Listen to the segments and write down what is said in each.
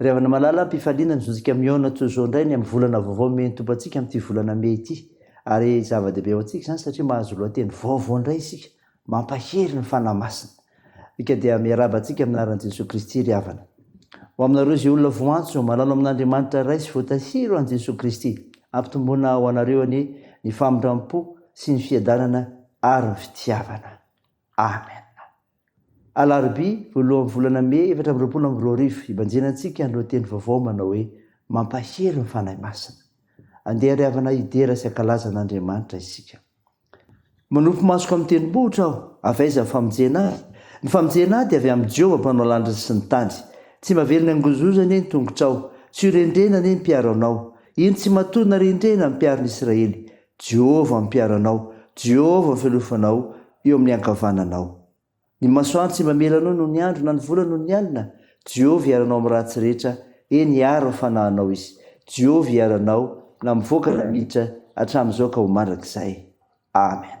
Ry havana malala, am-pifaliana ny zontsika mihaona toy izao indray ny amin'ny volana vaovao mihaino Tompo antsika amin'ity volana mey ity. Ary zava-dehibe ho antsika izany satria mahazo lohateny vaovao indray isika, mampahery ny Fanahy Masina. Ika dia miarahaba antsika amin'ny anaran'i Jesoa Kristy ry havana. Ho aminareo izay olona voantso, malalo amin'Andriamanitra Ray sy voatahiry ho an'i Jesoa Kristy. Ampitomboina ho anareo anie ny famindram-po sy ny fiadanana ary ny fitiavana. Amen! Alarobia, voalohan'ny volana Mey efatra amby roapolo amby roa arivo, hibanjina antsika ny lohateny vaovao manao hoe Mampahery ny Fanahy Masina. Andeha ry havana hidera sy hankalaza an'Andriamanitra isika. Manopy masoko amin'ny tendrombohitra aho. Avy aiza ny famonjena ahy? Ny famonjena ahy dia avy amin'i Jehovah mpanao lanitra sy ny tany. Tsy mba velona angonzoza anie ny tongotrao. Tsy ho rendrena anie ny mpiaro anao. Iny tsy matoa na rendrena ny mpiaro ny Israely. Jehovah no mpiaro anao, Jehovah no fialofanao eo amin'ny ankavananao. Ny masoandro tsy mamela anao noho ny andro na ny volana noho ny alina. Jehovah hiaro anao amin'ny ratsy rehetra, eny, hiaro ny fanahinao izy. Jehovah hiaro anao na mivoaka na miditra, hatramin'izao ka ho mandrakizay. Amena.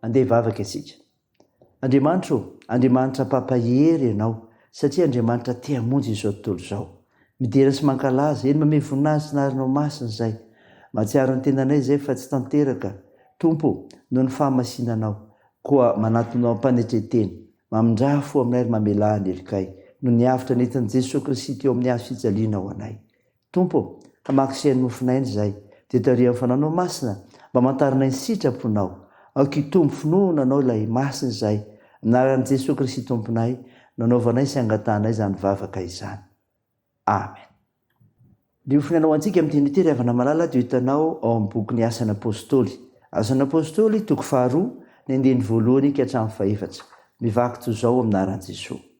Andeha hivavaka isika. Andriamanitra ô, Andriamanitra Papa hery Ianao, satria Andriamanitra te hamonjy izao tontolo izao. Midera sy mankalaza, eny mamehy voninahitra ny anaranao masina izay. Mahatsiaro ny tenanay izay fa tsy tanteraka, Tompo, noho ny fahamasinanao, koa manatona ao am-panetren-tena. Mamindrà fo aminay ary mamelà ny helokay, noho ny avotra nentin'i Jesoa Kristy teo amin'ny hazo fijaliana ho anay. Tompo ô, hamaky sy hanofon'aina izay, dia tarihan'ny Fanahinao Masina mba hamantaranay ny sitra-ponao. Aoka hitombo finoana Anao ilay Masina izay, amin'ny anaran'i Jesoa Kristy Tomponay no anaovanay sy angatahanay izany vavaka izany. Amen. Ny hofiny Anao antsika amin'i Timotea ry havana malala dia hitanao ao amin'ny bokin'ny Asan'ny Apôstôly. Asan'ny Apôstôly, toko faharoa, ny andininy voalohany ka hatramin'ny fahefatra. Mivaky toy izao amin'ny anaran'i Jesoa.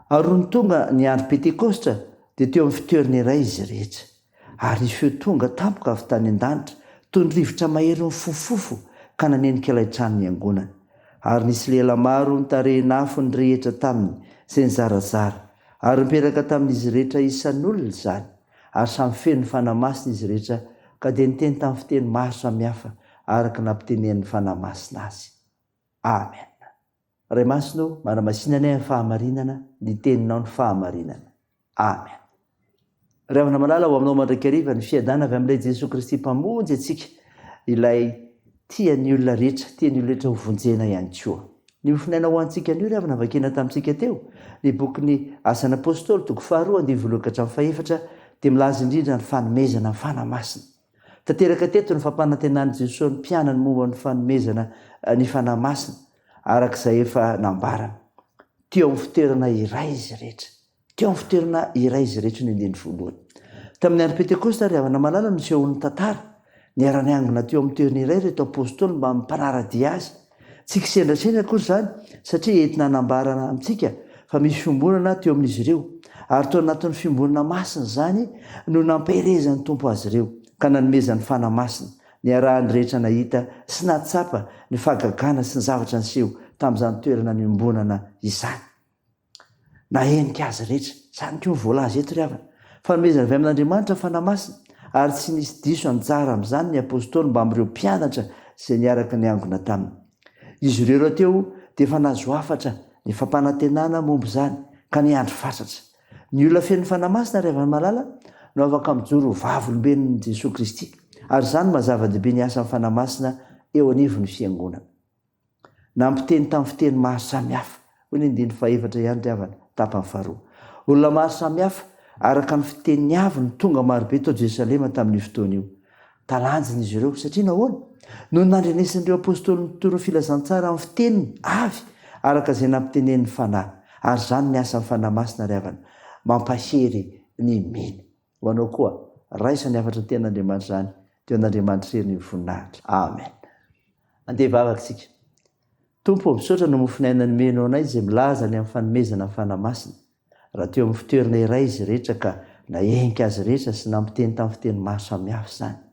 Ary nony tonga ny andro Pentekositra, dia teo amin'ny fitoerana iray izy rehetra. Ary ny feo tonga tampoka avy tany an-danitra, toy ny rivotra mahery mifofofofo, ka nanenika ilay trano niangonany. Ary nisy lehilahy maro nitarehin'afo nirehitra taminy, izay nizarazara, ary nipetaka tamin'izy rehetra isan'olona izany, ary samy feno ny Fanahy Masina izy rehetra, ka dia niteny tamin'ny fiteny maro samihafa, araka ny nampitenenin'ny Fanahy Masina azy. Amena. Ray Masina ô, manamasinanay amin'ny fahamarinana ny Teninao ny fahamarinana. Amen. Ry havana malala, ho aminao mandrakariva ny fiadana avy amin'ilay Jesoa Kristy Mpamonjy antsika, ilay tia ny olona rehetra, tia ny olona rehetra hovonjena ihany koa. Ny hofonaina ho antsika anio, ry havana, vakina tamintsika teo, ny bokin'ny Asan'ny Apostoly, toko faharoa, andininy voalohany ka hatramin'ny fahefatra, dia milaza indrindra ny fanomezana ny Fanahy Masina. Tanteraka teto ny fampanantenan'i Jesoa ny mpianany momba ny fanomezana ny Fanahy Masina, araka izay efa nambarany. Teo amin'ny fitoerana iray izy rehetra. Teo amin'ny fitoerana iray izy rehetra ny andininy voalohany. Tamin'ny andro Pentekosta, ry havana malala, nosehoan'ny tantara. Niara-niangona teo amin'ny toerana iray ireto Apostoly mba hampanara-dia azy. Tsy kisendrasendra akory izany satria entina hanambarana amintsika fa misy fiombonana teo amin'izy ireo, ary tao anatin'ny fiombonana masina izany no nampiherezan'ny Tompo azy ireo ka nanomezany fanahy masina. Niarahan'ny rehetra nahita sy nahatsapa ny fahagagana sy ny zavatra niseho tamin'izany toerana niombonana izany. Nahenika azy rehetra. Izany koa no voalaza eto ry havana. Fanomezana avy amin'Andriamanitra ny Fanahy Masina, ary tsy nisy diso anjara amin'izany ny apostoly mbamin'ny ireo mpianatra izay niaraka niangona taminy. Izy ireo rahateo dia efa nahazo hafatra ny fampanantenana momba izany, ka niandry fatratra. Ny olona feno Fanahy Masina, ry havana malala, no afaka mijoro ho vavolombelon'i Jesoa Kristy, ary izany maha zava-dehibe ny asan'ny Fanahy Masina eo anivon'ny Fiangonana. Nampiteny tamin'ny fiteny maro samihafa, hoy ny andininy fahaefatra ihany ry havana, tapany faharoa. Olona maro samihafa, araka ny fiteniny avy no tonga marobe tao Jerosalema tamin'io fotoana io. Talanjona izy ireo. Satria nahoana? Noho ny nandrenesan'ireo apostoly nitoro ny filazantsara amin'ny fiteniny avy, araka izay nampitenenin'ny Fanahy. Ary izany ny asan'ny Fanahy Masina ry havana, mampahery ny mino. Ho anao koa. Raisa ny hafatra tena Andriamanitra izany teo an'Andriamanitra irery ny voninahitra. Amen. Andeha hivavaka isika. Tompo ô, misaotra ny mofon'aina nomenao anay izay milaza ny amin'ny fanomezana ny Fanahy Masina. Raha teo amin'ny fitoerana iray izy rehetra ka nahehinka azy rehetra sy nampiteny tamin'ny fiteny maro samihafa izany.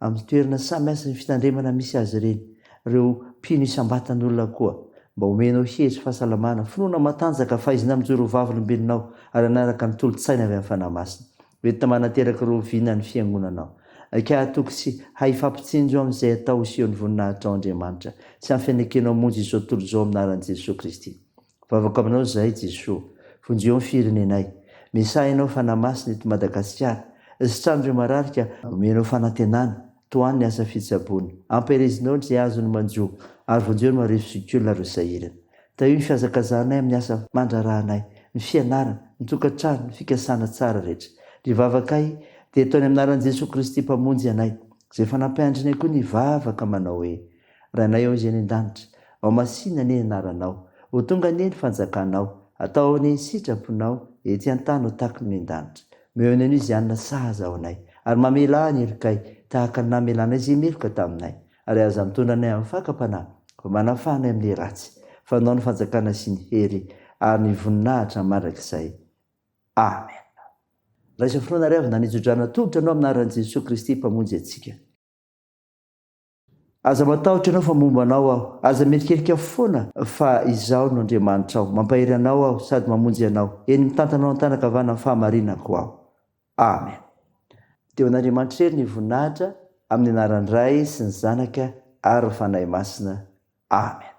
amin'ny toerana samy hasin' ny fitandremana misy azy ireny, ireo mpino isam-batan' olona koa, mba homenao hery sy fahasalamana, finoana matanjaka, fahaizana mijoro ho vavolombelonao, ary hanaraka ny tolo-tsaina avy amin'ny Fanahy Masina, ho entina manateraka ireo vina ny Fiangonanao. Aika hahatoky sy hahifampitsinjo amin'izay atao hiseho ny voninahitrao, Andriamanitra, sy amin'ny fianekenao hamonjy izao tontolo izao amin'ny anaran'i Jesoa Kristy. Vavako aminao zahay Jesoa, vonjeo ny firenenay, mesaha ianao Fanahy Masina eto Madagasikara, sitrano ireo marary ka omenao fanantenana, tohano ny asa fitsaboana, ampiherezinao ny izay azony manjo ary vonjeo ny marefo zokiolona ireo sahirana. Tahio ny fihazakazanay amin'ny asa mandraharahanay, ny fianarana, ny tokantrano, ny fikasana tsara rehetra. Ny vavakay dia ataony amin'ny anaran'i Jesoa Kristy Mpamonjy anay, izay fanampin-dry nay koa ny vavaka manao hoe, Ranay ao Izay any an-danitra. Ao masina anie ny anaranao. Ho tonga anie ny fanjakanao. Atao anie ny sitraponao. Ety an-tany ho takon'ny miandanitra. Omeo ny anio izay hanina sahaza ho anay. Ary mamela ahy ny helokay. Tahaka ny namelanay izay meloka taminay. Ary aza mitondra anay amin'ny fakam-panahy. Fa manafaha anay amin'ny ratsy. Fanao ny fanjakana sy ny hery. Ary ny voninahitra mandrakizay. Amen. Raisa finoana ary avy nanitso-drano atolotra anao amin'ny anaran'i Jesoa Kristy Mpamonjy antsika. Aza matahotra ianao fa momba anao aho. Aza mierikerika foana fa izaho no Andriamanitrao. Mampahery anao aho sady mamonjy anao. Eny mitantana ao an-tanan-kavanan'ny fahamarinako aho. Amen. Dia ho an'Andriamanitra irery ny voninahitra amin'ny anaran'ny Ray sy ny Zanaka ary ny Fanahy Masina. Amen.